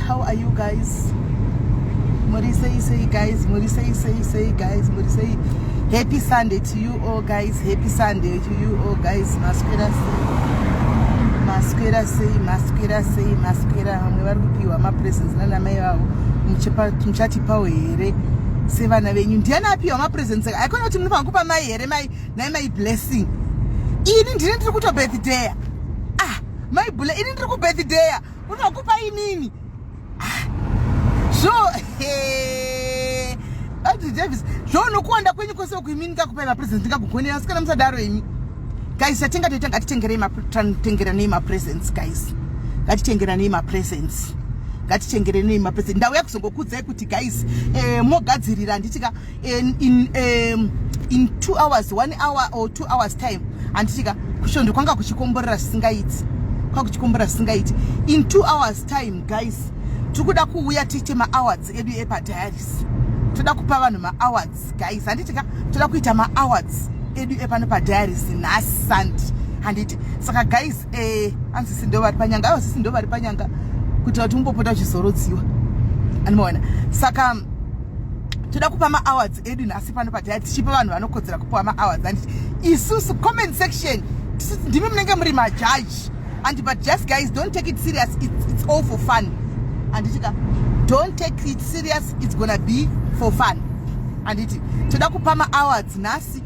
How are you guys? Muri sei sei guys, muri sei sei sei guys, muri sei. Happy Sunday to you all guys, happy Sunday to you all guys. Maswera sei, maswera sei, maswera sei, maswera. Vamwe vari kupiwa mapresents nana mai vavo. Muchatipawo here sevana venyu? Ndiani apiwa mapresents? Haikona kuti munofanira kupa mai here mai nai mai blessing. Ini ndini ndiri kutobirthday. Ah, mai bula ini ndiri kubirthday. Unokupa inini. Zvo eh Ati Davis, zvo unokuwanda kwenyu kwese uku imini kakupai ma presents ndikakugonera sikana musadaro imi. Guys, satenga toita ngatitengerei ma tantengeranei ma presents guys. Ngatitengeranei ma presents. Ngatitengeranei ma presents. Ndauya kuzongokudzai kuti guys, eh mogadzirira handitika in, in, um, in two hours one hour or two hours time handitika kushondo kwanga kuchikomborera zvisingaiti kwanga kuchikomborera zvisingaiti in two hours time guys tiri kuda kuuya tiite maawards edu epadiaris toda kupa vanhu maawards guys handitika toda kuita maawards edu epano padiaris nhasi sunday handiti saka guys eh, anzi sindo vari panyanga aiwa sisindo vari panyanga kuitira kuti umbopota uchizorodziwa andimaona saka toda kupa maawards edu nhasi pano pataya tichipa vanhu vanokodzera kupiwa maawards anditi isusu comment section ndimi munenge muri majaji and but just guys don't take it serious it's, it's all for fun anditika don't take it serious it's gonna be for fun anditi toda kupa maawards nhasi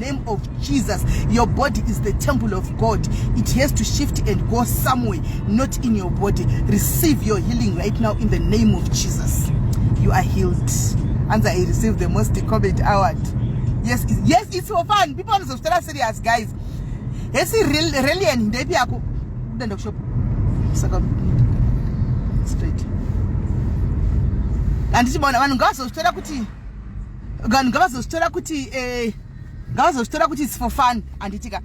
name of jesus your body is the temple of god it has to shift and go somewhere not in your body receive your healing right now in the name of jesus you are healed anzi i receive the most comment award yes it's, yes it's for fun people anozozvitara serious guys hesi relian ndepi yako kudaenda kushop saka straight handichibaona vanhu ngavazozvitara kuti vanhu ngavazozvitora kuti eh, ngavazozvitora kuti its for fun handitika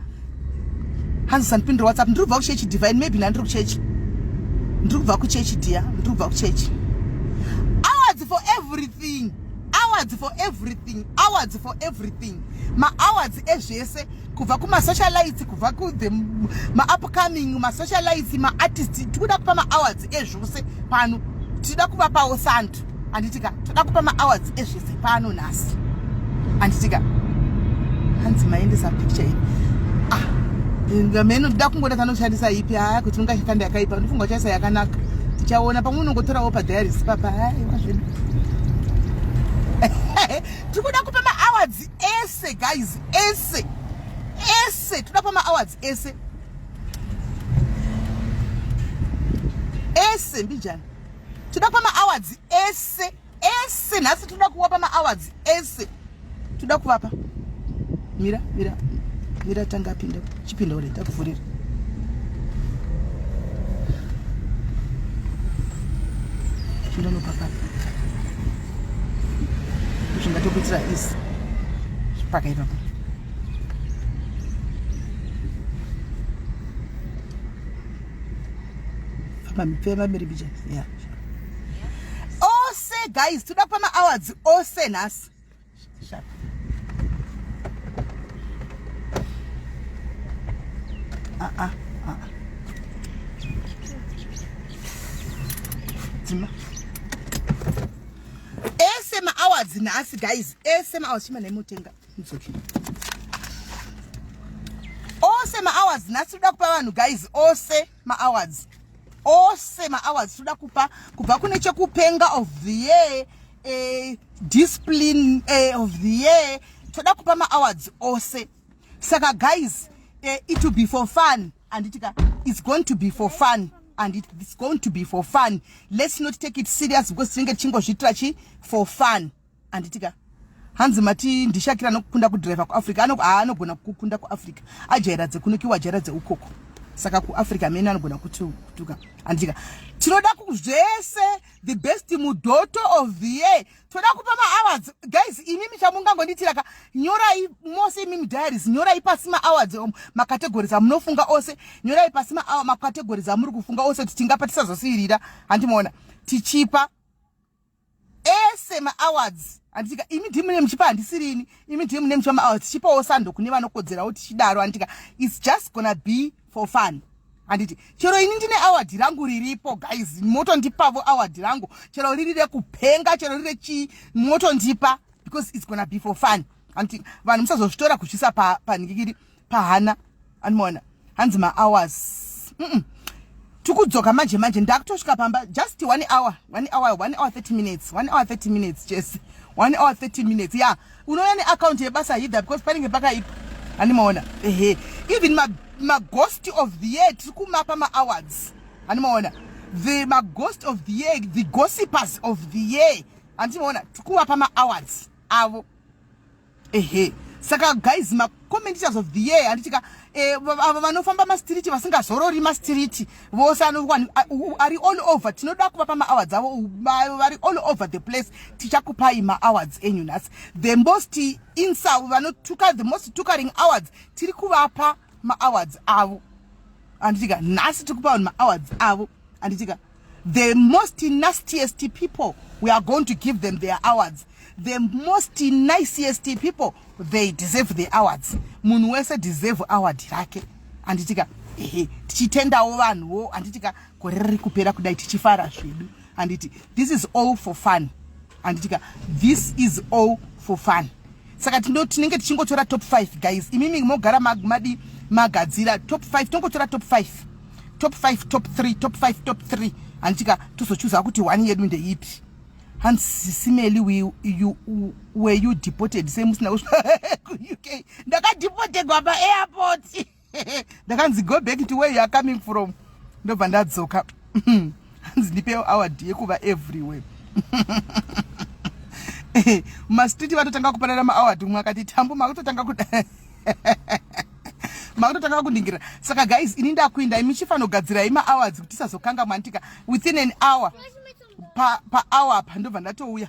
hanzi sandipindira whatsapp ndiri kubva kuchechi divine maybe nandiri kuchechi ndiri kubva kuchechi dia ndiri kubva kuchechi awards for everything awards for everything awards for everything maawards ezvese eh, kubva kumasocialites kubva kuthe maupcoming masocialites maartist tikuda kupa maawards ezvose pano tichida kuvapawo santu anditika toda kupa maawards ezvese pano nhasi anditika hanzi maendesa picture iyi ah ngameno ndida kungoda tanoshandisa ipi haa kuti ungashakanda yakaipa ndifunga uchaisa yakanaka tichaona pamwe unongotorawo padiaris papa haiwa zvedu tikuda kupa maawards ese guys ese ese toda pama awards ese ese mbijana toda pama awards ese ese nhasi toda kuwapa ma awards ese toda kuvapa mira mira mira tanga pinda Chipinda uri ndakuvhurira. Chinda no papa. Chinda to kuitira is. Paka ipapo. Papa mipema mberi bija. Yeah. Ose guys, tuda pama hours ose nasi. Ah, ah, ah. Tima. Ese ma hours nhasi guys. Ese ma hours chima nemutenga. It's okay. Ose ma hours nhasi toda kupa vanhu guys. Ose. maawards ose maawards tinoda kupa kubva kune chekupenga of the year eh, discipline eh, of the year toda kupa maawards ose saka guys eh, it will be for fun anditika it's going to be for fun and it's going to be for fun let's not take it serious because tinenge tichingozviitira chi for fun handiti ka hanzi mati ndishakira anokunda kudriver kuafrica anogona kukunda kuafrica ajaira dzekunokiwa ajaira dzeukoko saka kuafrica amene anogona kutuka handika tinoda zvese the best mudoto of the year toda kupa maawards guys imi michamungangonditira ka nyorai mose imi mudiaries nyorai pasi maawards om macategories amunofunga ose nyorai pasi macategories amuri kufunga ose kuti tingapa tisazosiirira handimoona tichipa ese maawards anditika imi dhi mune muchipa handisirini imi dhi mune muchipa maawards tichipawo sando kune vanokodzerawo tichidaro anditika its just gonna be for fun handiti chero ini ndine award rangu riripo guys motondipavo award rangu chero riri rekupenga chero riri rechii motondipa because its gonna be for fun handiti vanhu musazozvitora kutyisa panhikikiri pa pahana anoona hanzi mahours mm -mm. tikudzoka manje manje ndakutosvika pamba just one hour one hour one hour 30 minutes one hour 30 minutes jese one hour 30 minutes ya yeah. unouya neaccount yebasa hidha because panenge pakaipa animaona ehe even maghost ma of the year tiri kumapa maawards animaona the maghost of the year the gossipers of the year andimaona tiri kuvapa maawards avo ehe saka guys macommentitas of the year handitika eh, ava vanofamba mastiriti vasingazorori mastiriti vose anokwani ari all over tinoda kuvapa maawards avo vari all over the place tichakupai maawards enyu nhasi the most insa vanotuka the most tukaring awards tiri kuvapa maawards avo handitika nhasi tiri kupa vanhu maawards avo handitika The most nastiest people, we are going to give them their awards. The most nicest people, they deserve the awards. Munhu wese deserve award rake. Anditika, ehe, tichitendawo vanhuwo, anditika, gore riri kupera kudai tichifara zvedu. Anditi, this is all for fun. anditika this is all for fun saka tindo tinenge tichingotora top 5 guys imimi mogara madi magadzira top 5 tongotora top 5 top 5 top 3 top 5 top 3 anditika tozochuza kuti one yedu ndeipi hanzi sisimeli we you were you deported sei musina kusvika kuuk ndakadeportegwa paairport ndakanzi go back to where you are coming from ndobva ndadzoka hanzi ndipe award yekuva everywhere mumastreet vatotanga kupanana maaward umwe akati tambu makutotanga kuda makutotanga kundingira saka guys ini ndakuinda imi chifanogadzirai maawards kuti tisazokangamwantika within an hour pahour pa apa ndobva ndatouya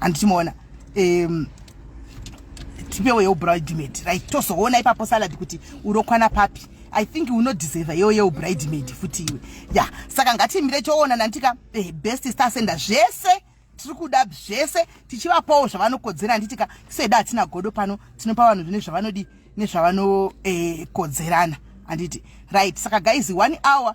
andichimuona um, tipewo yeubridemed right tozoona ipapo salad kuti unokwana papi i think unodeserve yewo yeubridemed futi iwe ya yeah. saka ngatimire toona nantika eh, best stasenda zvese tiri kuda zvese tichivapawo zvavanokodzera handitika seda hatina godo pano tinopa vanhu zvine zvavanodi nezvavanokodzerana eh, handiti right saka guys one hour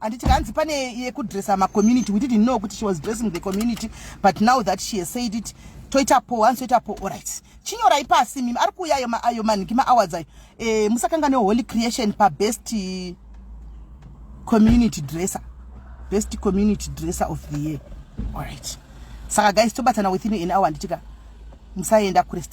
handiti kanzi pane yekudressa macommunity we didn't know kuti she was dressing the community but now that she has said it toita po hanzi toita po orit chinyorai pasi mimi ari kuuya ayo manhingi maawards ayo e, musakanga neholy creation pabest community dresser best community dresser of the year orit saka guys tobatana within an hour handitika musaenda kurestere